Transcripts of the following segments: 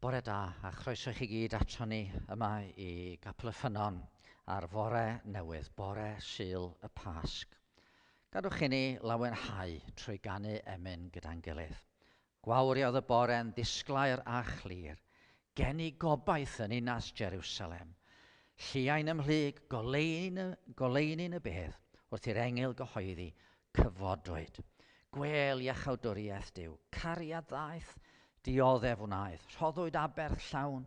Bore da, a chroeso i chi gyd ato ni yma i Gapel y Ffynnon ar fore newydd, bore Sul y Pasg. Gadwch i ni lawenhau trwy ganu emyn gyda'n gilydd. Gwawriodd y bore'n ddisglair a chlir, gen i gobaith yn ninas Jerusalem. Lliai'n ymhlyg, goleuni'n y bedd, wrth i'r engil gyhoeddi, Cyfodwyd! Gwêl iachawdwriaeth Duw, cariad ddaeth, dioddef wnaeth, rhoddwyd aberth llawn.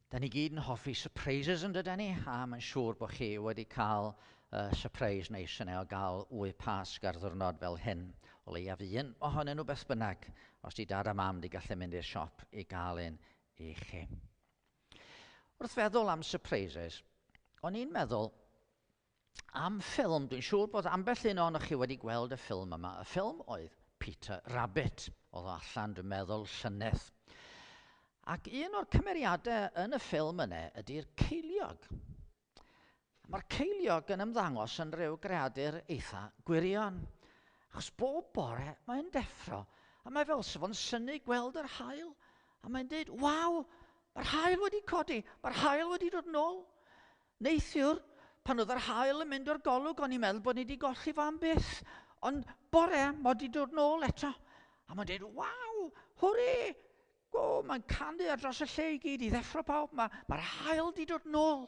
Dan ni gyd yn hoffi surprises yn dyden ni, a mae'n siŵr bod chi wedi cael uh, surprise neis yna o gael wy pasg ar ddwrnod fel hyn, o leiaf un ohonyn nhw beth bynnag, os di dad a mam di gallu mynd i'r siop i gael un i chi. Wrth feddwl am surprises, o'n i'n meddwl am ffilm, dwi'n siŵr bod ambell un ohonoch chi wedi gweld y ffilm yma. Y ffilm oedd Peter Rabbit, oedd o allan, dwi'n meddwl, llynedd. Ac un o'r cymeriadau yn y ffilm yna ydy'r ceiliog. Mae'r ceiliog yn ymddangos yn rhyw greadur eitha gwirion. Achos bob bore mae'n deffro, a mae fel sef o'n syni gweld yr hael, a mae'n dweud, waw, mae'r hael wedi codi, mae'r hael wedi dod nôl. Neithiwr, pan oedd yr haul yn mynd o'r golwg, o'n i'n meddwl bod ni wedi golli fo am byth. Ond bore, mae wedi dod nôl eto. A mae'n dweud, waw, hwre! Go, mae'n canu ar dros y lle i gyd i ddeffro pawb. Mae'r ma, ma hael wedi dod nôl.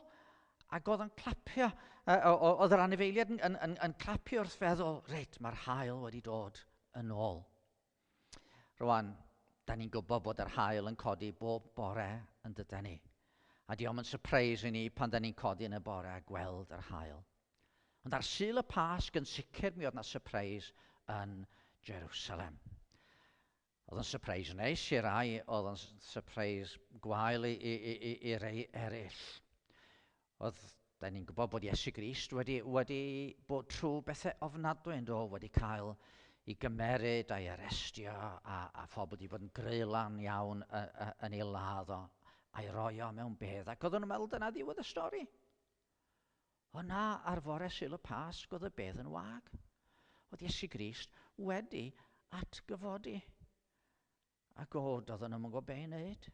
Ac oedd yn clapio, oedd yr anifeiliad yn, yn, yn, yn clapio wrth feddwl, reit, mae'r hael wedi dod yn ôl. Rwan, da ni'n gwybod bod yr haul yn codi bob bore yn dydan ni. A diom yn surprise i ni pan da ni'n codi yn y bore a gweld yr haul. Ond ar Sul y Pasg yn sicr mi oedd na surprise yn Jerusalem. Oedd yn surprise neis i rai, oedd yn surprise gwael i, i, i, i rei eraill. Oedd, da ni'n gwybod bod Iesu Grist wedi, wedi bod trwy bethau ofnadwy yn dod, wedi cael i gymeryd a'i arestio a, a phobl wedi bod yn greilan iawn yn ei ladd o a'i roi o mewn bedd. Ac oedden nhw'n meddwl dyna ddiwedd y stori. O na, ar fore syl y Pasg oedd y bedd yn wag. Oedd Iesu Grist wedi atgyfodi. A god, oedden nhw'n gwybod be i wneud.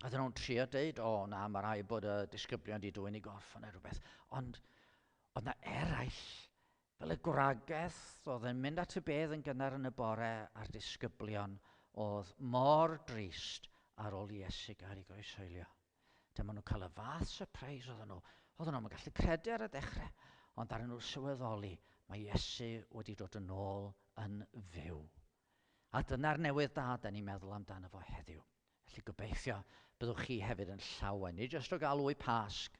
Oedden nhw'n trio dweud, o oh, na, mae rhaid bod y disgyblion wedi dwy'n ei gorff neu rhywbeth. Ond oedd na eraill, fel y gwragedd, oedd yn mynd at y bedd yn gynnar yn y bore a'r disgyblion oedd mor drist ar ôl i Iesu gael ei groesoelio. Dyma nhw'n cael y fath surprise oedden nhw. Oedden nhw'n gallu credu ar y dechrau, ond ar nhw sylweddoli, mae Iesu wedi dod yn ôl yn fyw. A dyna'r newydd da da ni'n meddwl amdano fo heddiw. Felly gobeithio byddwch chi hefyd yn llawen, nid jyst o gael wy Pasg,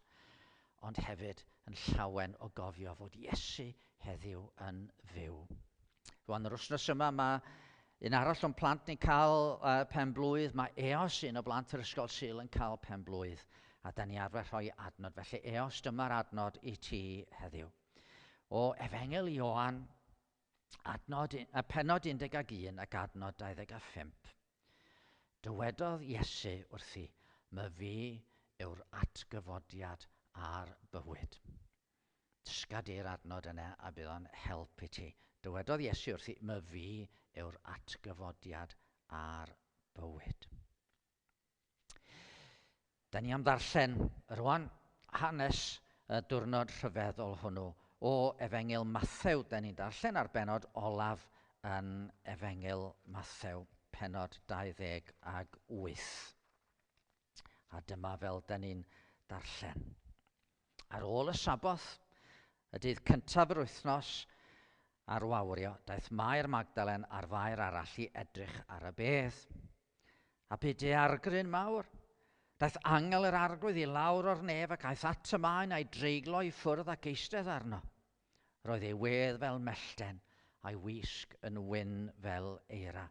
ond hefyd yn llawen o gofio fod Iesu heddiw yn fyw. Rwan, yr wythnos yma mae un arall o'n plant ni'n cael uh, pen blwydd. Mae EOS, un o blant yr Ysgol Sul, yn cael pen blwydd. A da ni arfer rhoi adnod. Felly EOS, dyma'r adnod i ti heddiw. O Efengel Ioan, Adnod, a penod 11 ac adnod 25. Dywedodd Iesu wrthi, my fi yw'r atgyfodiad a'r bywyd. Dysga di'r adnod yna a bydd o'n help i ti. Dywedodd Iesu wrthi, my fi yw'r atgyfodiad a'r bywyd. Da ni am ddarllen rwan hanes y diwrnod rhyfeddol hwnnw. O Efengyl Mathew, da ni'n darllen ar benod olaf yn Efengyl Mathew, penod 28. A dyma fel da ni'n darllen. Ar ôl y saboth, y dydd cyntaf yr wythnos ar wawrio, daeth Mair Magdalen a'r fair arall i edrych ar y bedd. A bu daeargryn mawr. Daeth angel yr arglwydd i lawr o'r nef ac aeth at y maen a'i dreiglo i ffwrdd ac eistedd arno. Roedd ei wedd fel mellten, a'i wisg yn wyn fel eira.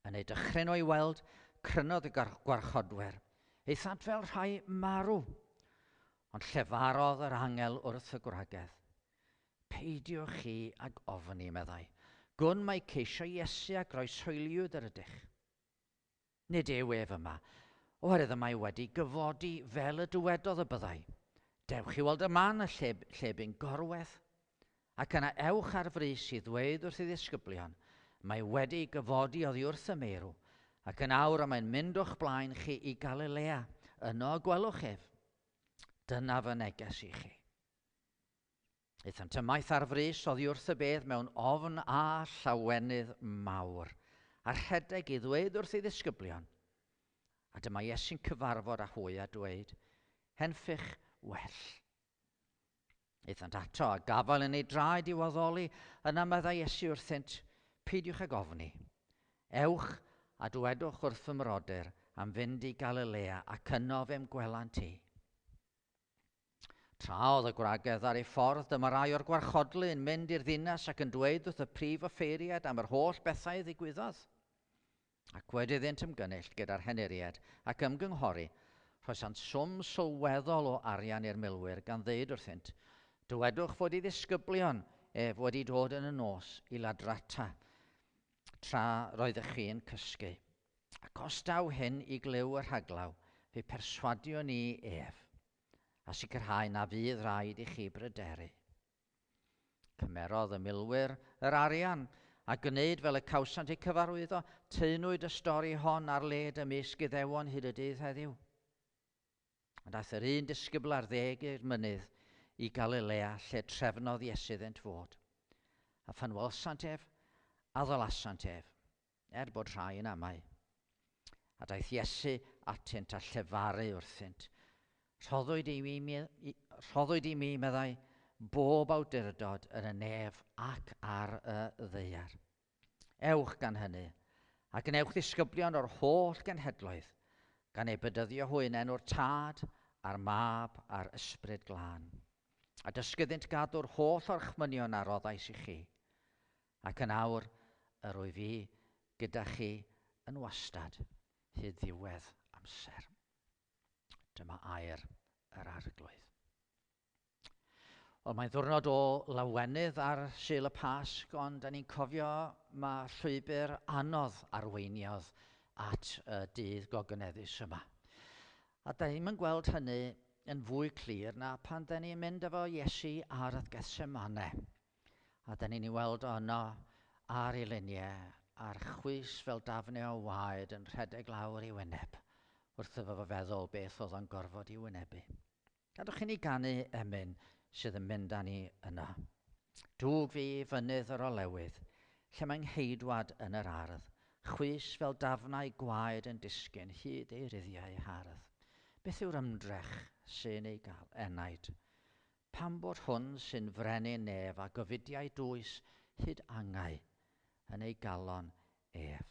Yn ei dychryn o'i weld, crynodd y gwarchodwyr, Eithant fel rhai marw. Ond llefarodd yr angel wrth y gwragedd. Peidiwch chi ag ofn i, meddai, gwn mai ceisio Iesu a groeshoeliwyd yr ydych. Nid yw ef yma, oherwydd y mae wedi gyfodi fel y dywedodd y byddai. Dewch i weld y man y lle, lle bu'n gorwedd. Ac yna ewch ar frys i ddweud wrth ei ddisgyblion, mae wedi gyfodi oddi wrth y meirw, ac yn awr y mae'n mynd o'ch blaen chi i Galilea, yno y gwelwch ef. Dyna fy neges i chi. Aethant ymaith ar frys oddi wrth y bedd mewn ofn a llawenydd mawr, a rhedeg i ddweud wrth ei ddisgyblion. A dyma Iesu'n cyfarfod â hwy a dweud, Henffych well. Aethant ato a gafael yn ei draed i waddoli, yna meddai Iesu wrthynt, Peidiwch ag ofni. Ewch a dwedwch wrth fy mrodyr am fynd i Galilea ac yno fe'm gwelant i. Tra oedd y gwragedd ar ei ffordd, dyma rai o'r gwarchodlu yn mynd i'r ddinas ac yn dweud wrth y prif offeiriad am yr holl bethau ddigwyddodd. Ac wedi iddynt ymgynnull gyda'r henuried ac ymgynghori, rhoesant swm sylweddol o arian i'r milwyr gan ddeud wrthynt, Dywedwch fod i ddisgyblion ef wedi dod yn y nos i ladrata tra roeddech chi'n cysgu. Ac os daw hyn i glyw y rhaglaw, fe perswadio ni ef, a sicrhau na fydd rhaid i chi bryderu. Cymerodd y milwyr yr arian, a gwneud fel y cawsant eu cyfarwyddo, teunwyd y stori hon ar led ymysg Iddewon hyd y dydd heddiw. Ond aeth yr un disgybl ar ddeg i'r mynydd i Galilea lle trefnodd Iesu iddynt fod. A phan wel'sant ef, addalasant ef, Er bod rhai yn amau. A daeth Iesu atynt a llefaru wrthynt. Rhoddwyd i mi, rhoddwyd i mi, meddai, bob awdurdod yn y nef ac ar y ddeiar. Ewch gan hynny, a gwnewch ddisgyblion o'r holl genhedloedd, gan ei bydyddio hwy yn enw'r Tad, a'r Mab, a'r Ysbryd Glân. A dysgyddynt gadw'r holl orchmynion a roddais i chi. Ac yn awr, yr wyf fi gyda chi yn wastad, hyd ddiwedd amser. Dyma air yr Arglwydd. Wel, mae'n ddwrnod o lawenydd ar Sul y Pasg, ond da ni'n cofio mae llwybr anodd arweiniodd at y dydd gogyneddus yma. A da ni'n gweld hynny yn fwy clir na pan da ni'n mynd efo Iesu ar y Gethsemane. A dan ni'n ei weld o yno ar ei luniau, a'r chwys fel dafnau o waed yn rhedeg lawr ei wyneb, wrth iddo fo feddwl beth oedd o'n gorfod ei wynebu. Gadwch chi ni ganu emyn sydd yn mynd â ni yno. Dwg fi i fynydd yr olewydd, lle mae ngheidwad yn yr ardd, chwys fel dafnau gwaed yn disgyn hyd ei ruddiau hardd. Beth yw'r ymdrech sy'n ei gael, enaid? Pam bod hwn sy'n frenin ef a gyfudiau dwys hyd angau yn ei galon ef?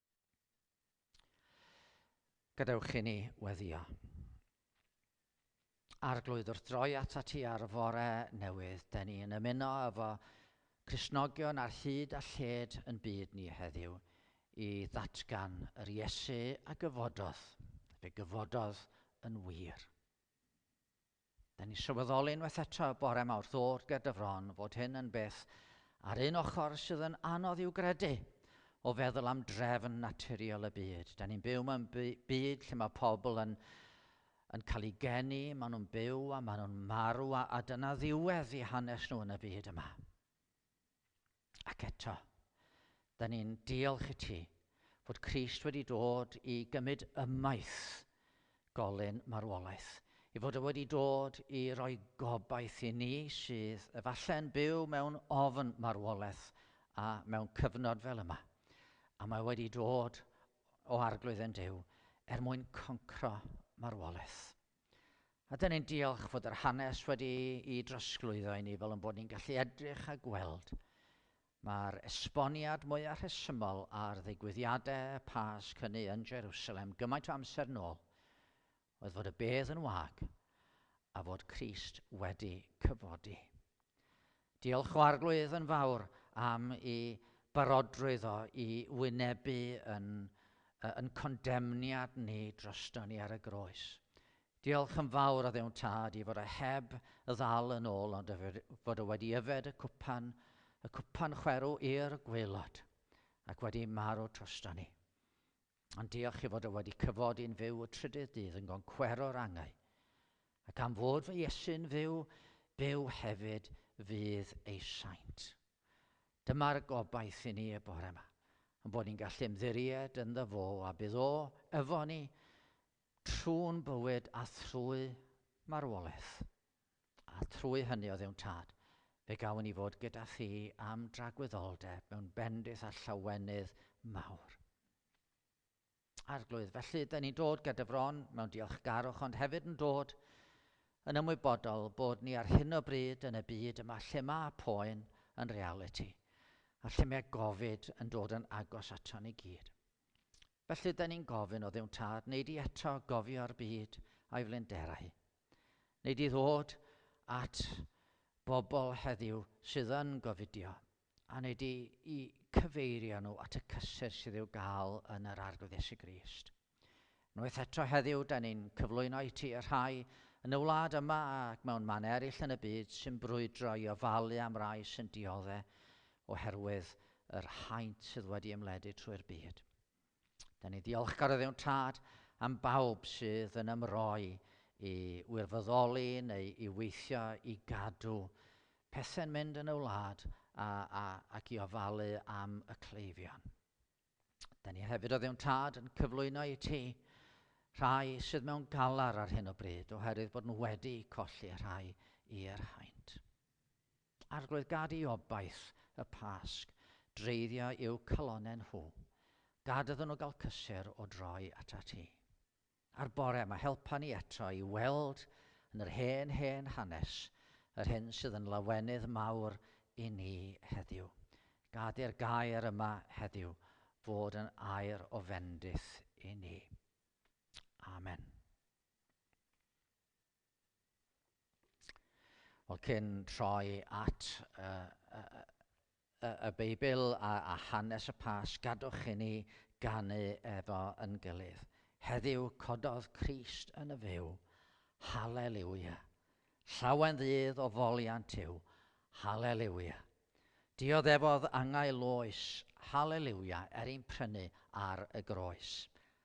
Gadewch i ni weddio. Arglwydd wrth droi ata ti ar y fore newydd, da ni yn ymuno efo Crisnogion ar hyd a lled yn byd ni heddiw i ddatgan yr Iesu a gyfododd, fe gyfododd yn wir. Da ni sylweddoli unwaith eto bore mawr ddod ger dy fron fod hyn yn beth ar un ochr sydd yn anodd i'w gredu o feddwl am drefn naturiol y byd. Da ni'n byw mewn byd lle mae pobl yn, yn cael ei geni, maen nhw'n byw a maen nhw'n marw a, a dyna ddiwedd i hanes nhw yn y byd yma. Ac eto, da ni'n diolch i ti fod Crist wedi dod i gymryd ymaith golyn marwolaeth, i fod o wedi dod i roi gobaith i ni sydd efallai yn byw mewn ofn marwolaeth a mewn cyfnod fel yma. A mae wedi dod o arglwydd yn Duw er mwyn concro marwolaeth. A dyn ni'n diolch fod yr hanes wedi i drosglwyddo i ni fel yn bod ni'n gallu edrych a gweld Mae'r esboniad mwyaf rhesymol ar ddigwyddiadau Pasg hynny yn Jerusalem gymaint o amser nôl oedd fod y bedd yn wag a fod Crist wedi cyfodi. Diolch o arglwydd yn fawr am i barodrwydd o i wynebu yn, yn condemniad ni droston ni ar y groes. Diolch yn fawr o ddewn tad i fod o heb ddal yn ôl ond fod o wedi yfed y cwpan, y cwpan chwerw i'r gweilod ac wedi marw troston ni. Ond diolch i fod o wedi cyfodi'n fyw y trydydd dydd yn goncwero'r angau, ac am fod fy Iesu'n fyw, byw hefyd fydd ei saint. Dyma'r gobaith i ni y bore yma, yn bod ni'n gallu ymddiried yn dda fo a bydd o efo ni trwy'n bywyd a thrwy marwolaeth. a thrwy hynny o Dduw'n Tad, fe gawn ni fod gyda thi am dragwyddoldeb mewn bendith a llawenydd mawr. Arglwydd, felly, da ni'n dod gyda fron mewn diolchgarwch, ond hefyd yn dod yn ymwybodol bod ni ar hyn o bryd yn y byd yma lle mae poen yn realiti, a lle mae gofid yn dod yn agos ato ni gyd. Felly, da ni'n gofyn o Dduw'n Tad, wneud i eto gofio'r byd a'i flinderau, Nid i ddod at bobl heddiw sydd yn gofidio, a nid i, i cyfeirio nhw at y cysur sydd i'w gael yn yr Arglwydd Iesu Grist. Unwaith eto heddiw, da ni'n cyflwyno i ti y rhai yn y wlad yma ac mewn man eraill yn y byd sy'n brwydro i ofalu am rai sy'n diodde oherwydd yr haint sydd wedi ymledu trwy'r byd. Da ni ddiolchgar o ddewn tad am bawb sydd yn ymroi i wirfoddoli neu i weithio i gadw pethau'n mynd yn y wlad a, a, ac i ofalu am y cleifion. Da ni hefyd o ddewn tad yn cyflwyno i ti rhai sydd mewn galar ar hyn o bryd oherwydd bod nhw wedi colli rhai i'r haint. Arglwydd gad i obaith y Pasg dreiddio i'w calonnau nhw, gad iddyn nhw gael cysur o droi atat ti. A'r bore yma helpa ni eto i weld yn yr hen, hen hanes yr hyn sydd yn lawenydd mawr i ni heddiw. Gad i'r gair yma heddiw fod yn air o fendith i ni. Amen. Wel, cyn troi at y Beibl a hanes y Pasg, gadwch i ni ganu efo yn gilydd. Heddiw cododd Crist yn y fyw. Hallelujah. Llawen ddydd o foliant yw. Hallelujah. Dioddefodd angau loes. Hallelujah, er i'n prynu ar y groes.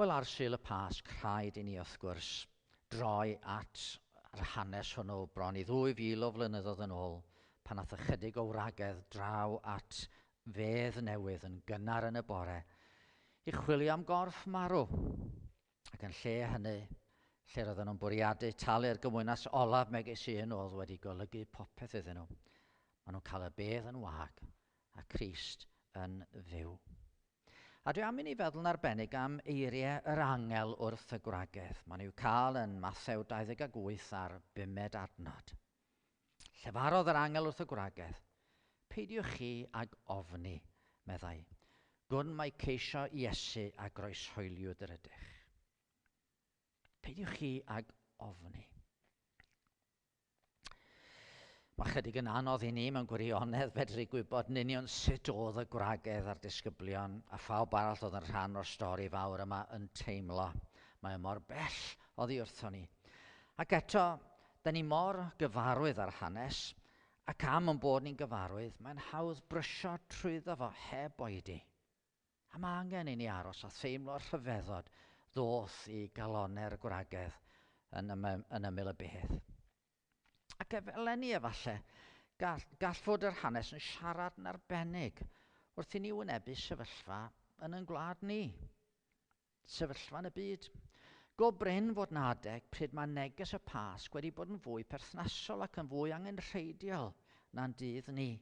Wel, ar Sul y Pasg, rhaid i ni, wrth gwrs, droi at yr hanes hwnnw bron i ddwy fil o flynyddoedd yn ôl, pan ath ychydig o wragedd draw at fedd newydd yn gynnar yn y bore, i chwilio am gorff marw, ac yn lle hynny, lle roedden nhw'n bwriadu talu'r gymwynas olaf megis un oedd wedi golygu popeth iddyn nhw, maen nhw'n cael y bedd yn wag, a Christ yn fyw. A dwi am i ni feddwl yn arbennig am eiriau yr angel wrth y gwragedd. Maen i'w cael yn Mathew 28 ar bumed adnod. Llefarodd yr angel wrth y gwragedd. Peidiwch chi ag ofni, meddai. Gwn mai ceisio Iesu a groeshoeliwyd yr ydych. Peidiwch chi ag ofni. Mae chydig yn anodd i ni mewn gwirionedd fedru gwybod yn union sut oedd y gwragedd a'r disgyblion a phawb arall oedd yn rhan o'r stori fawr yma yn teimlo. Mae o mor bell oddi wrtho ni. Ac eto, da ni mor gyfarwydd â'r hanes, ac am yn bod ni'n gyfarwydd, mae'n hawdd brysio trwyddo fo heb oedi. A mae angen i ni aros a theimlo'r rhyfeddod ddoth i galonnau'r gwragedd yn, ym, yn ymyl y bedd. Ac efallai, efallai, gall, gall fod yr hanes yn siarad yn arbennig wrth i ni wynebu sefyllfa yn yn gwlad ni. Sefyllfa yn y byd. Go brin fod 'na adeg pryd mae neges y Pasg wedi bod yn fwy perthnasol ac yn fwy angenrheidiol na'n dydd ni.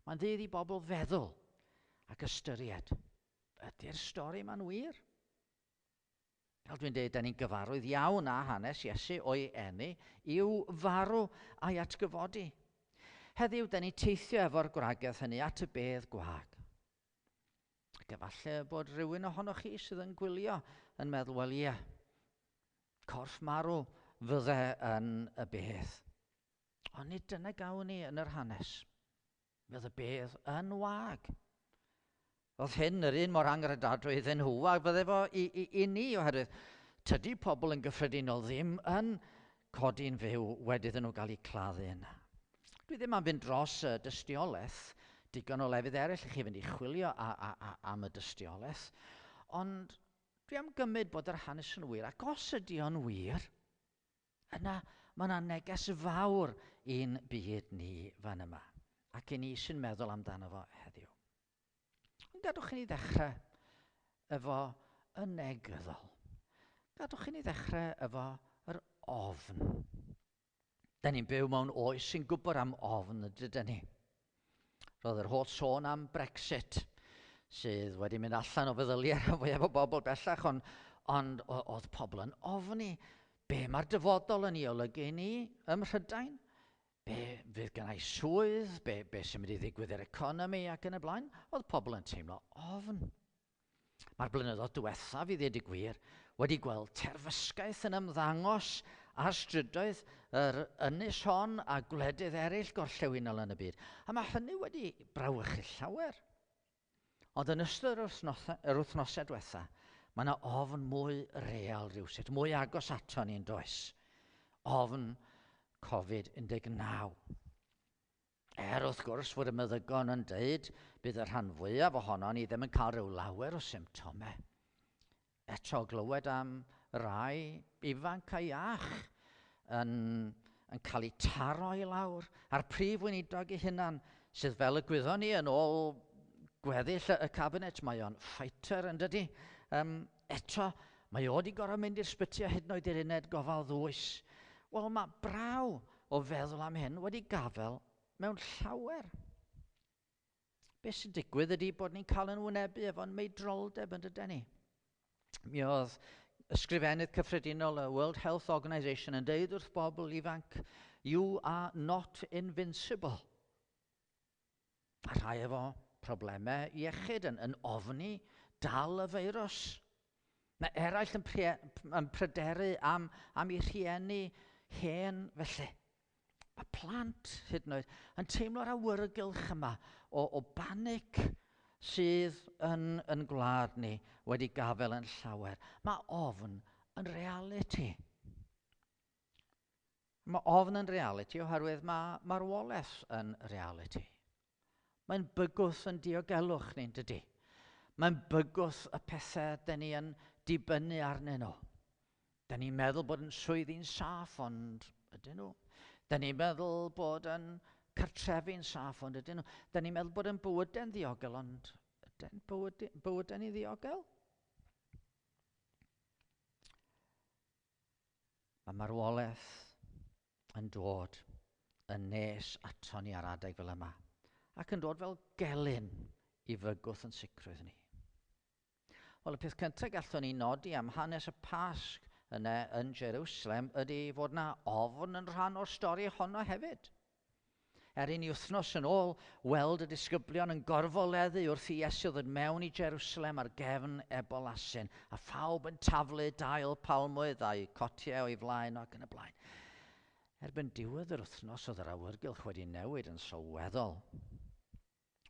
Mae'n ddydd i bobl feddwl ac ystyried, ydy'r stori yma'n wir? Fel dwi'n dweud, da ni'n gyfarwydd iawn â hanes Iesu o'i eni, i'w farw a'i atgyfodi. Heddiw, da ni'n teithio efo'r gwragedd hynny at y bedd gwag. Ac efallai y bod rhywun ohonoch chi sydd yn gwylio yn meddwl, wel ie, corff marw fydde yn y beth. Ond nid dyna gawn ni yn yr hanes. Fydd y bedd yn wag. Oedd hyn yr un mor angredadwy iddyn nhw a fydde fo i, i, i ni oherwydd tydy pobl yn gyffredinol ddim yn codi'n fyw wedi iddyn nhw gael eu claddu'n. Dwi ddim am fynd dros y dystiolaeth, digon o lefydd eraill i chi fynd i chwilio a, a, a, am y dystiolaeth, ond dwi am gymryd bod yr hanes yn wir, ac os ydy o'n wir, yna mae yna neges fawr i'n byd ni fan yma, ac i ni sy'n meddwl amdano fo heddiw. Gadwch i ni ddechrau efo y negyddol. Gadwch i ni ddechrau efo yr ofn. Da ni'n byw mewn oes sy'n gwybod am ofn, dyda ni. Roedd yr holl sôn am Brexit, sydd wedi mynd allan o feddyliau rhan fwyaf o bobl bellach, ond, ond oedd pobl yn ofni, be mae'r dyfodol yn ei olygu i ni ym Mhrydain? be fydd gennau swydd, be, be sy'n mynd i ddigwydd i'r economi ac yn y blaen, oedd pobl yn teimlo ofn. Mae'r blynyddoedd diwethaf, i ddweud y gwir, wedi gweld terfysgaeth yn ymddangos ar strydoedd yr ynys hon a gwledydd eraill gorllewinol yn y byd. A mae hynny wedi brawychu llawer. Ond yn ystod yr wythnosau, yr wythnosau diwetha, mae yna ofn mwy real rhywsut, mwy agos ato ni'n does. Ofn Covid-19. Er wrth gwrs fod y meddygon yn dweud bydd y rhan fwyaf ohono ni ddim yn cael rhyw lawer o symptomau. Eto glywed am rai ifanc a iach yn, yn cael eu taro i lawr, a'r prif weinidog ei hunan, sydd fel y gwyddon ni yn ôl gweddill y cabinet, mae o'n fighter yn dydy. Um, eto, mae o wedi gorau mynd i'r sbyty a hyd yn oed i'r uned gofal ddwys. Wel, mae braw o feddwl am hyn wedi gafel mewn llawer. Beth sy'n digwydd ydy bod ni'n cael yn wynebu efo'n meidroldeb yn dyden ni. Mi oedd ysgrifennydd cyffredinol y World Health Organization yn deud wrth bobl ifanc, you are not invincible. A rhai efo problemau iechyd yn, yn ofni dal y feirws. Mae eraill yn, yn pryderu am, am ei rhieni hen felly. Mae plant, hyd yn oed, yn teimlo'r awyrgylch yma o, o banic sydd yn, yn gwlad ni wedi gafel yn llawer. Mae ofn yn realiti. Mae ofn yn realiti oherwydd mae marwolaeth yn realiti. Mae'n bygwth yn diogelwch ni'n dydy. Mae'n bygwth y pethau dyn ni yn dibynnu arnyn nhw. Dyn ni'n meddwl bod yn swyddi'n saff ond ydyn nhw. Dyn ni'n meddwl bod yn cartrefi'n saff ond ydyn nhw. Dyn ni'n meddwl bod yn bywydau'n ddiogel ond ydyn bywydau ni ddiogel? Mae marwolaeth yn dod yn nes aton ni ar adeg fel yma, ac yn dod fel gelyn i fygwth yn sicrwydd ni. Wel, y peth cyntaf gallwn ni nodi am hanes y Pasg yna yn Jerusalem ydy fod na ofn yn rhan o'r stori honno hefyd. Er inni wythnos yn ôl weld y disgyblion yn gorfoleddu wrth i Iesu ddod mewn i Jerusalem ar gefn ebol asyn, a phawb yn taflu dail palmwydd a'u cotiau o'i flaen ac yn y blaen. Erbyn diwedd yr wythnos oedd yr awyrgylch wedi newid yn sylweddol.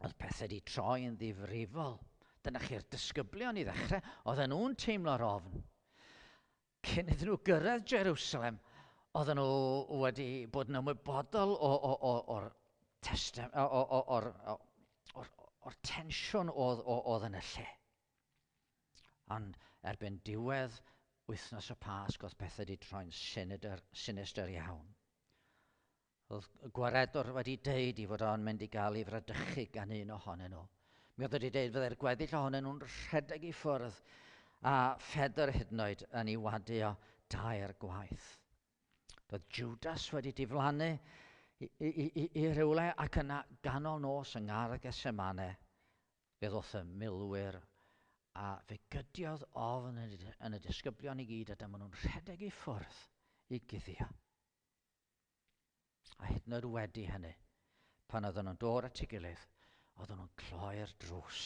oedd pethau wedi troi yn ddifrifol. Dyna chi'r disgyblion i ddechrau, oedden nhw'n teimlo'r ofn. Cyn iddyn nhw gyrraedd Jerusalem, oedden nhw wedi bod yn ymwybodol o'r testem, o'r o'r tensiwn oedd, oedd yn y lle. Ond erbyn diwedd wythnos y Pasg oedd pethau wedi troi'n sinidr, sinister iawn. Roedd y gwaredwr wedi deud i fod o'n mynd i gael ei fradychu gan un ohonyn nhw. Mi oedd wedi deud fydde'r gweddill ohonyn nhw'n rhedeg i ffwrdd, a Phedr hyd yn oed yn ei wadu o dair gwaith. Roedd Judas wedi diflannu i, i, i, i rywle ac yna ganol nos yng ngardd Gesemane, fe ddoth y milwyr a fe gydiodd ofn yn y disgyblion i gyd a dyma nhw'n rhedeg i ffwrdd i guddio. A hyd yn oed wedi hynny, pan oedden nhw'n dod at ei gilydd, oedden nhw'n cloi'r drws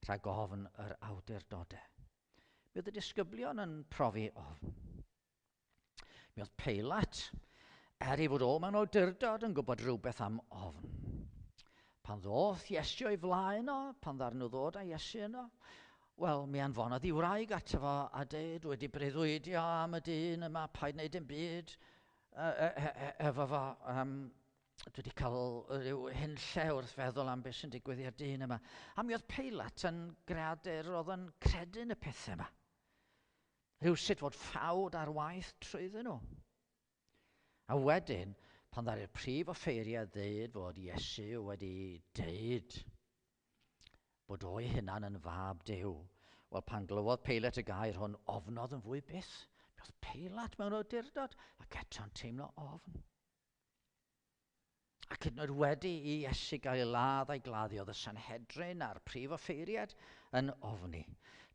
rhag ofn yr awdurdodau. Mi oedd y disgyblion yn profi ofn. Mi oedd Peilat, er ei fod o mewn awdurdod, yn gwybod rhywbeth am ofn. Pan ddoth Iesu o'i flaen o, pan ddarn nhw ddod â Iesu yno, wel, mi anfonodd i wraig ato fo a dweud, wedi breuddwydio am y dyn yma, paid wneud yn byd, efo fo, um, dwi wedi cael rhyw hyn lle wrth feddwl am beth sy'n digwydd i'r dyn yma. A mi oedd Peilat yn greadur oedd yn credu yn y pethau yma. Rhyw sut fod ffawd ar waith trwyddyn nhw. A wedyn, pan ddari'r prif offeiriad ddeud fod Iesu wedi deud bod o'i hunan yn fab Duw. Wel, pan glywodd Peilat y gair hwn, ofnodd yn fwy byth. Mi oedd Peilat mewn awdurdod ac eto'n teimlo ofn. Ac hyd yn oed wedi i Iesu gael ei ladd a'i gladdio, oedd y Sanhedrin a'r prif offeiriad yn ofni.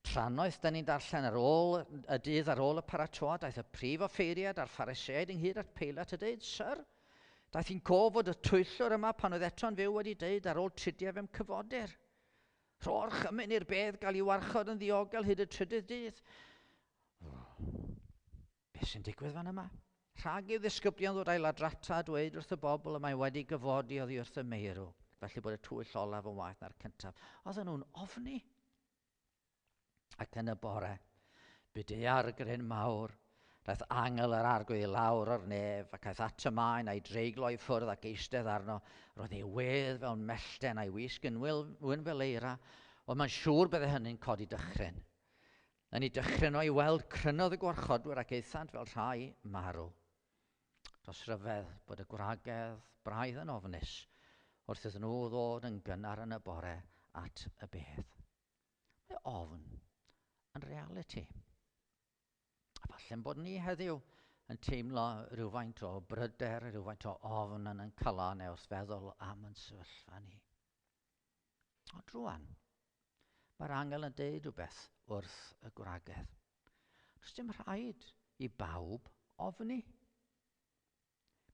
Trannoeth, da ni'n darllen ar ôl y dydd ar ôl y paratoad, daeth y prif offeiriad a'r phariseaid ynghyd at Peilat a dweud, Sir, Daeth hi'n cof fod y twyllwr yma pan oedd Eton Fyw wedi dweud ar ôl tridiau fe'm cyfodir. Rho'r chymyn i'r bedd gael ei warchod yn ddiogel hyd y trydydd dydd. Beth sy'n digwydd fan yma? Rhag i'w ddisgyblion ddod a'i ladrata a dweud wrth y bobl y mae wedi gyfodi oddi wrth y meirw, felly bod y twyll olaf yn waeth na'r cyntaf. Oedden nhw'n ofni. Ac yn y bore, bu daeargryn mawr. Daeth angel yr arglwydd i lawr o'r nef, ac aeth at y maen a'i dreiglo i ffwrdd ac eistedd arno. Roedd ei wedd fel mellten a'i wisg yn wyn fel eira, ond mae'n siŵr bydde hynny'n codi dychryn. Yn ei dychryn o'i weld, crynodd y gwarchodwyr ac aethant fel rhai marw. Does ryfedd bod y gwragedd braidd yn ofnus wrth iddyn nhw ddod yn gynnar yn y bore at y bedd. Mae ofn yn realiti. A falle'n bod ni heddiw yn teimlo rhywfaint o bryder, rhywfaint o ofn yn yn cala neu wrth feddwl am yn sefyllfa ni. Ond rwan, mae'r angel yn deud rhywbeth wrth y gwragedd. Does dim rhaid i bawb ofni.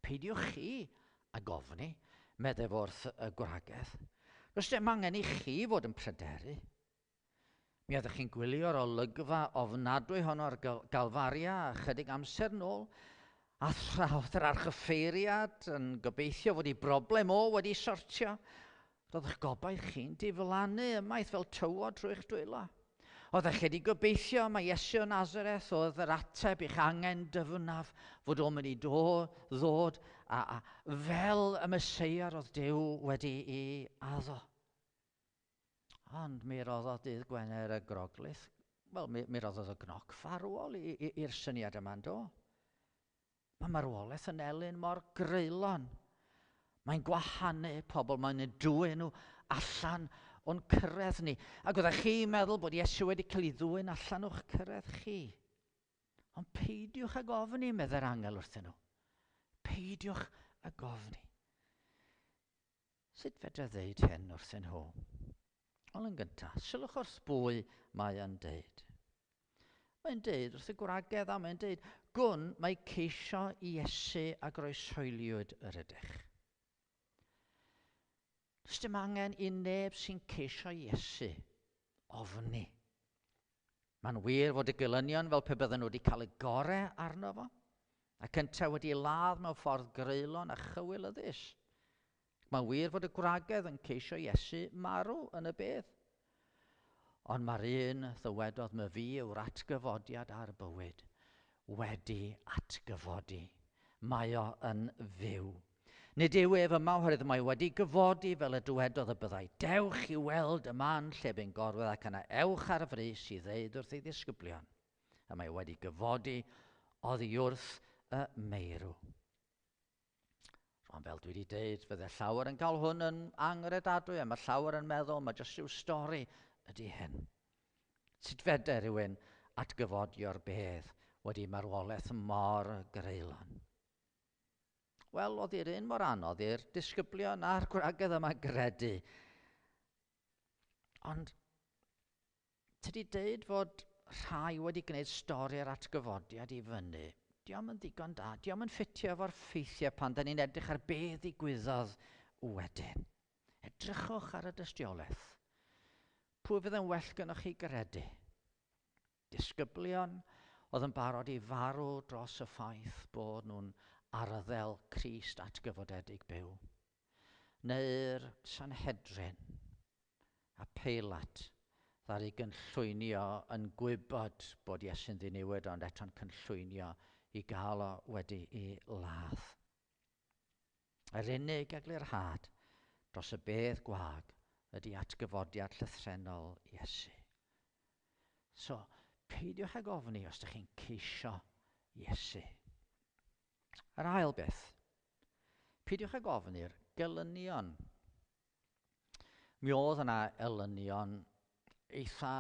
Peidiwch chi a gofni, meddef wrth y gwragedd. Does dim angen i chi fod yn pryderu. Mi oeddech chi'n gwylio'r olygfa ofnadwy hon o'r Galfaria chydig amser nôl, a thraodd yr archyffeiriad yn gobeithio fod ei broblem o wedi sortio. Roeddech gobaith chi'n diflannu ymaith fel tywod trwy'ch dwylo. Oeddech wedi gobeithio mae Iesu o Nazareth oedd yr ateb i'ch angen dyfnaf fod o'n mynd i ddod a, a fel y Mesoea roedd Dyw wedi ei addo. Ond mi roddodd dydd Gwener y Groglith, wel, mi, mi roddodd y gnoc farwol i'r syniad yma, do? Mae marwolaeth yn elyn mor greulon. Mae'n gwahanu pobl, mae'n y dwy nhw allan o'n cyrraedd ni. Ac oeddech chi'n meddwl bod Iesu wedi cael ei ddwy'n allan o'ch cyrraedd chi. Ond peidiwch ag ofni, meddai'r angel wrthyn nhw. Peidiwch ag ofni. Sut fedra ddeud hyn wrthyn nhw? Wel yn gynta, sylwch o'r sbwy mae yn deud. Mae'n deud wrth y gwragedd a mae'n deud, gwn mae ceisio i Iesu a groesoeliwyd yr ydych. Does dim angen i neb sy'n ceisio Iesu ofni. Mae'n wir fod y gelynion fel pe bydden nhw wedi cael y gore arno fo, ac yntau wedi ei ladd mewn ffordd greulon a chywilyddus. Mae'n wir fod y gwragedd yn ceisio Iesu marw yn y bedd. Ond mae'r un ddywedodd my fi yw'r atgyfodiad a'r bywyd wedi atgyfodi. Mae o yn fyw. Nid yw ef yma oherwydd mae wedi gyfodi fel y dywedodd y byddai, dewch i weld y man lle bu'n gorwedd ac yna ewch ar frys i ddeud wrth ei ddisgyblion y mae wedi gyfodi oddi wrth y meirw. Rwan fel dwi wedi deud, fydde llawer yn cael hwn yn angredadwy a mae llawer yn meddwl mae jyst rhyw stori ydy hyn. Sut fedde rhywun atgyfodio'r bedd wedi marwolaeth mor greulon? Wel, oedd i'r un mor anodd i'r disgyblion a'r gwragedd yma gredu. Ond tydi deud fod rhai wedi gwneud stori ar atgyfodiad i fyny, diolch yn ddigon da, diolch yn ffitio efo'r ffeithiau pan da ni'n edrych ar be ddigwyddodd wedyn. Edrychwch ar y dystiolaeth. Pwy fydd yn well gynnwch chi gredu? Disgyblion oedd yn barod i farw dros y ffaith bod nhw'n arddel Crist atgyfodedig byw. Neu'r Sanhedrin, a Peilat ddaru gynllwynio yn gwybod bod Iesu'n ddiniwed ond eto'n cynllwynio i gael o wedi'i ladd. Yr unig eglurhad dros y bedd gwag ydy atgyfodiad llythrennol Iesu. So, peidiwch ag ofni os ydych chi'n ceisio Iesu. Yr ail beth, peidiwch ag ofni'r gelynion. Mi oedd yna elynion eitha,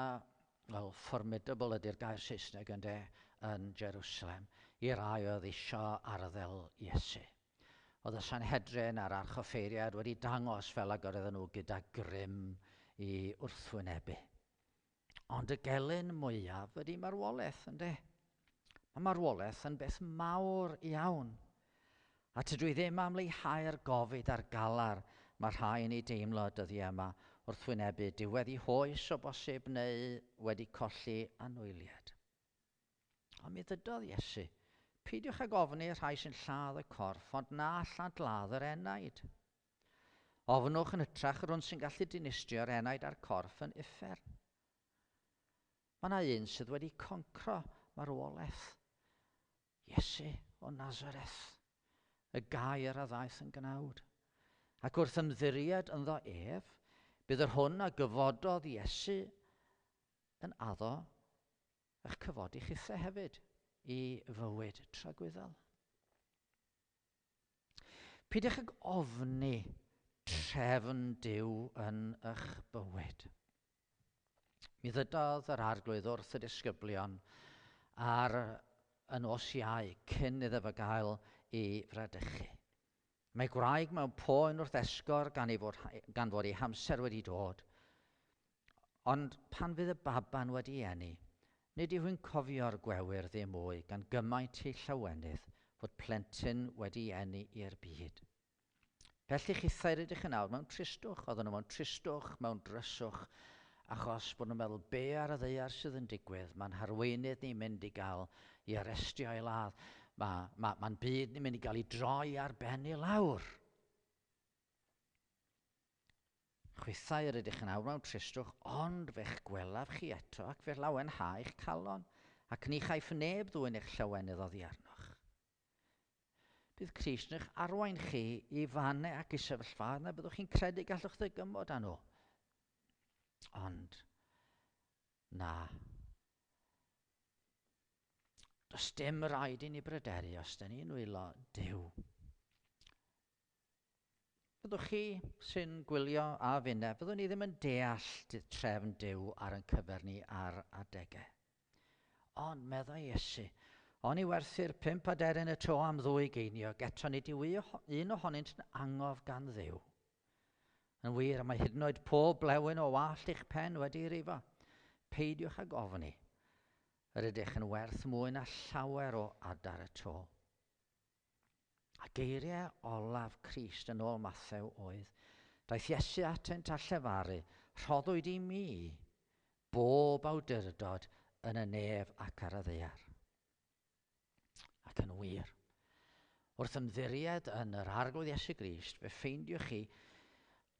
wel, formidable ydy'r gair Saesneg ynde, yn Jerusalem, i rai oedd isio arddel Iesu. Oedd y Sanhedrin a'r archoffeiriad wedi dangos fel ag oedden nhw gyda grym i wrthwynebu. Ond y gelyn mwyaf ydy marwolaeth, ynddo. Mae marwolaeth yn beth mawr iawn. A tydw i ddim am leihau'r gofid a'r galar mae rhai yn ei deimlo y dyddiau yma wrth wynebu diwedd i hoes o bosib neu wedi colli anwyliad. Ond mi ddydodd Iesu, peidiwch ag ofni y rhai sy'n lladd y corff ond na lladladd yr enaid. Ofnwch yn hytrach yr un sy'n gallu dinistrio'r enaid a'r corff yn uffern. Mae yna un sydd wedi concro marwolaeth. Iesu o Nazareth, y gair a ddaeth yn gnawd. Ac wrth ymddiried ynddo ef, bydd yr hwn a gyfododd Iesu yn addo eich cyfodi chithe hefyd i fywyd tragwyddol. Pidwch ag ofni trefn Duw yn ych bywyd. Mi ddydodd yr arglwydd wrth y disgyblion ar y nos iau cyn iddo fe gael ei fradychu. Mae gwraig mewn poen wrth esgor gan, ei fod, gan fod ei hamser wedi dod. Ond pan fydd y baban wedi eni, nid yw hi'n cofio'r gwewyr ddim mwy gan gymaint ei llawenydd fod plentyn wedi eni i'r byd. Felly chithau rydych yn awr mewn tristwch, oedden nhw mewn tristwch, mewn dryswch, achos bod nhw'n meddwl be ar y ddeiar sydd yn digwydd, mae'n harweinydd ni'n mynd i gael i arestio ei ladd, mae, mae, mae'n byd ni'n mynd i gael i droi ar ben i lawr. Chwithau yr ydych yn awr mewn tristwch, ond fe'ch gwelaf chi eto, ac fe lawen ha eich calon, ac ni chaiff neb ddwyn eich llawenydd oddi arnoch. Bydd Crist yn eich arwain chi i fane ac i sefyllfaoedd na byddwch chi'n credu gallwch ddygymod â nhw. Ond, na. Does dim rhaid i ni bryderu os da ni'n nwylo Dyw. Fyddwch chi sy'n gwylio a finne, fyddwn ni ddim yn deall trefn Duw ar yn cyfer ni ar adegau. Ond meddai Iesu, O'n i werthu'r pump aderyn y tro am ddwy geiniog, eto nid yw un ohonynt yn angof gan ddew. Yn wir, mae hyd yn oed pob blewyn o wallt eich pen wedi rifo. Peidiwch ag ofni. Yr ydych yn werth mwy na llawer o adar y to. A geiriau olaf Crist yn ôl Mathew oedd, Daeth Iesu atynt a llefaru, Rhoddwyd i mi bob awdurdod yn y nef ac ar y ddaear. Ac yn wir, wrth ymddiried yn yr Arglwydd Iesu Grist, fe ffeindiwch chi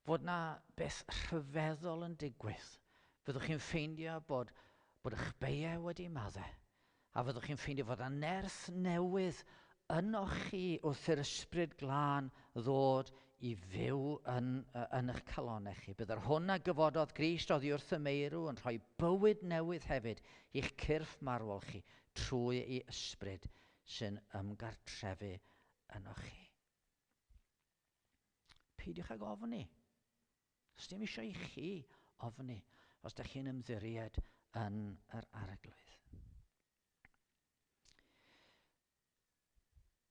fod 'na beth rhyfeddol yn digwydd, fyddwch chi'n ffeindio bod, bod eich beiau wedi madde, a fyddwch chi'n ffeindio fod 'na nerth newydd ynoch chi wrth i'r Ysbryd Glân ddod i fyw yn, yn eich calonau chi. Bydd yr hwn a gyfododd Grist oddi wrth y meirw yn rhoi bywyd newydd hefyd i'ch cyrff marwol chi trwy ei ysbryd sy'n ymgartrefu ynoch chi. Peidiwch ag ofni. Sdim isio i chi ofni os da chi'n ymddiried yn yr areglwydd.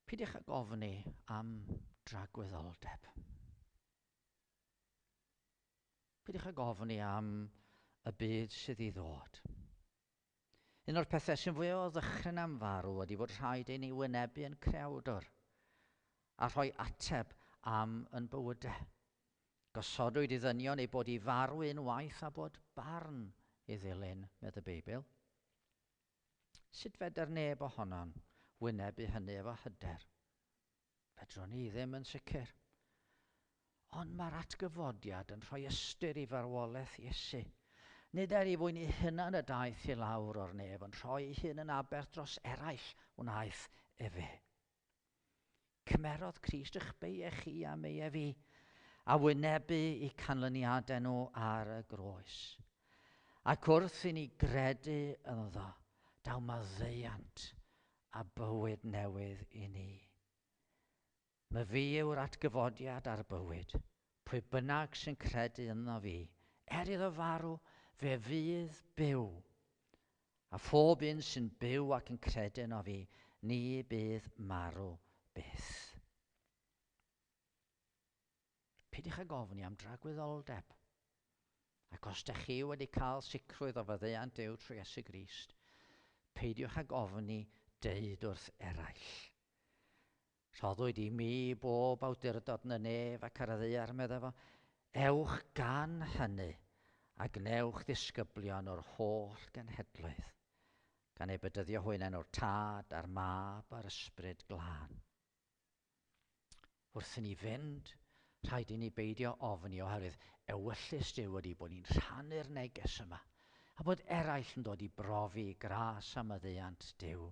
Peidiwch ag ofni am dragwyddoldeb. Peidiwch ag ofni am y byd sydd i ddod. Un o'r pethau sy'n fwy o ddychryn am farw ydy fod rhaid ei ni wynebu yn creawdwr a rhoi ateb am yn bywydau. Gosodwyd i ddynion eu bod i farw unwaith a bod barn i ddilyn, medd y Beibl. Sut fedr neb ohonon wynebu hynny efo hyder? Fedrwn i ddim yn sicr. Ond mae'r atgyfodiad yn rhoi ystyr i farwolaeth Iesu. Nid er i fwyn ei hunan y daeth i lawr o'r nef, ond rhoi ei hun yn aberth dros eraill wnaeth efe. Cymerodd Crist eich beie chi a meie fi, a wynebu i canlyniadau nhw ar y groes. Ac wrth i ni gredu ynddo, daw maddeuant a bywyd newydd i ni. Myfi yw'r atgyfodiad a'r bywyd. Pwy bynnag sy'n credu ynddo fi, er iddo farw, fe fydd byw. A phob un sy'n byw ac yn credu yno fi, ni bydd marw byth. Peidiwch ag ofni am dragwyddoldeb. Ac os dych chi wedi cael sicrwydd o faddeuant Duw trwy Iesu Grist, peidiwch ag ofni deud wrth eraill, Rhoddwyd i mi bob awdurdod yn y nef ac ar y ddaear, meddai fo. Ewch gan hynny a gwnewch ddisgyblion o'r holl genhedloedd, gan eu bedyddio hwy'n enw'r Tad a'r Mab a'r Ysbryd Glân. Wrth i ni fynd, rhaid i ni beidio ofni oherwydd ewyllys Duw ydy bod ni'n rhannu'r neges yma a bod eraill yn dod i brofi gras a maddeuant Duw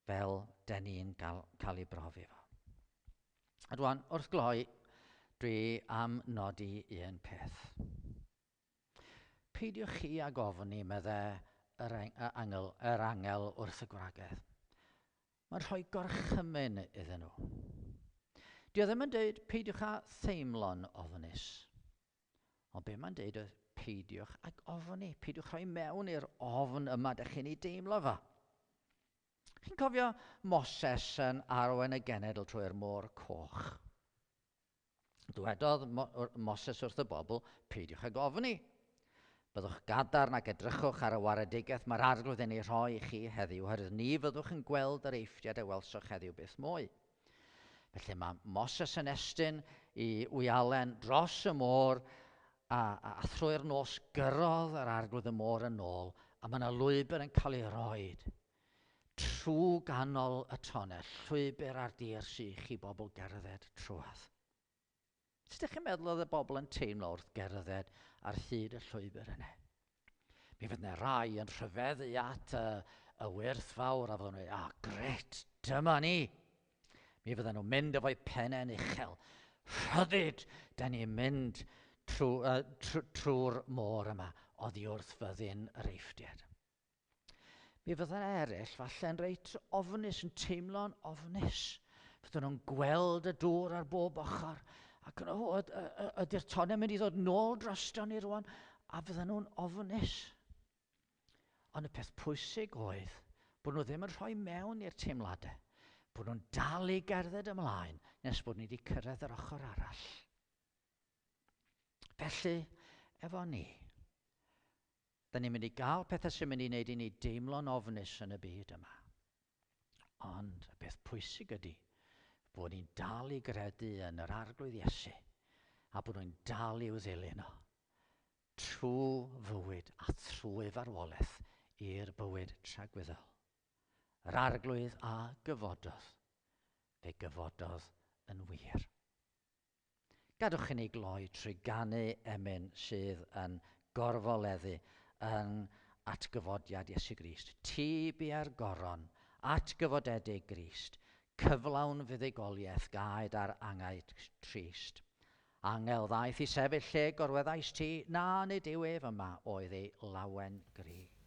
fel den ni'n cael ei brofi fo. A rwan, wrth gloi, dwi am nodi un peth. Peidiwch chi ag ofni, medde yr angl, yr angel wrth y gwragedd. Mae'n rhoi gorchymyn iddyn nhw. Dio ddim yn deud peidiwch â theimlo'n ofnus. Ond be mae'n deud oedd peidiwch ag ofni, peidiwch rhoi mewn i'r ofn yma dych chi'n ei deimlo fo. Chi'n cofio Moses yn arwain y genedl trwy'r môr coch? Dwedodd Moses wrth y bobl, Peidiwch ag ofni. Byddwch gadarn ac edrychwch ar y waredigaeth mae'r Arglwydd yn ei rhoi i chi heddiw, oherwydd ni fyddwch yn gweld yr eithriad a welsoch heddiw byth mwy. Felly mae Moses yn estyn i wyalen dros y môr a, a, a thrwy'r nos gyrrodd yr arglwydd y môr yn ôl a mae yna lwybr yn cael ei roed Trwy ganol y tonnell, llwybr ar dir sych i bobl gerdded trwadd. Sut ych chi'n meddwl oedd y bobl yn teimlo wrth gerdded ar hyd y llwybr yna? Mi fydd yna rai yn rhyfeddu at y, y wyrth fawr a fydden nhw'n ah, gret, dyma ni! Mi fydden nhw'n mynd efo'i pennau'n uchel. Rhyddid, da ni'n mynd trwy'r trwy, trwy môr yma, oddi wrth fyddin yr eiftiad. Mi fyddan eraill falle'n reit ofnus, yn teimlo'n ofnus. Fyddan nhw'n gweld y dŵr ar bob ochr. Ac yn oed, ydy'r tonau mynd i ddod nôl drosto ni rwan, a fyddan nhw'n ofnus. Ond y peth pwysig oedd bod nhw ddim yn rhoi mewn i'r teimladau, bod nhw'n dal i gerdded ymlaen nes bod ni wedi cyrraedd yr ochr arall. Felly, efo ni, Dan ni'n mynd i gael pethau sy'n mynd i wneud i ni deimlo'n ofnus yn y byd yma. Ond y peth pwysig ydy bod ni'n dal i gredu yn yr arglwydd Iesu a bod nhw'n dal i'w ddilyn o trwy fywyd a thrwy farwolaeth i'r bywyd tragwyddol. Yr arglwydd a gyfododd, fe gyfododd yn wir. Gadwch i ni gloi trwy ganu emyn sydd yn gorfoleddu yn atgyfodiad Iesu Grist, Ti bua'r goron, atgyfodedig Grist, cyflawn fuddugoliaeth gaed ar angau trist. Angel ddaeth i sefyll lle gorweddais ti, na, nid yw ef yma, oedd ei lawen gryf.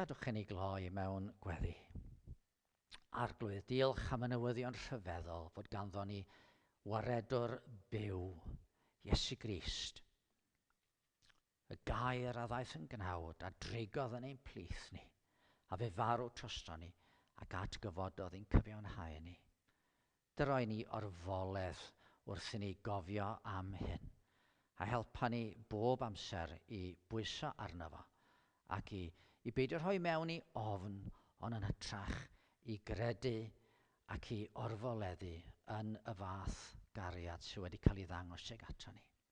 Gadwch i ni gloi mewn gweddi. Arglwydd, diolch am y newyddion rhyfeddol fod ganddo ni waredwr byw, Iesu Grist, y gair a ddaeth yn gnawd a drigodd yn ein plith ni, a fe farw troston ni ac atgyfododd i'n cyfiawnhau ni. Dyroi ni orfoledd wrth i ni gofio am hyn, a'i helpa ni bob amser i bwyso arno fo, ac i i beidio rhoi mewn i ofn, ond yn hytrach i gredu ac i orfoleddu yn y fath gariad sydd wedi cael ei ddangos tuag aton ni.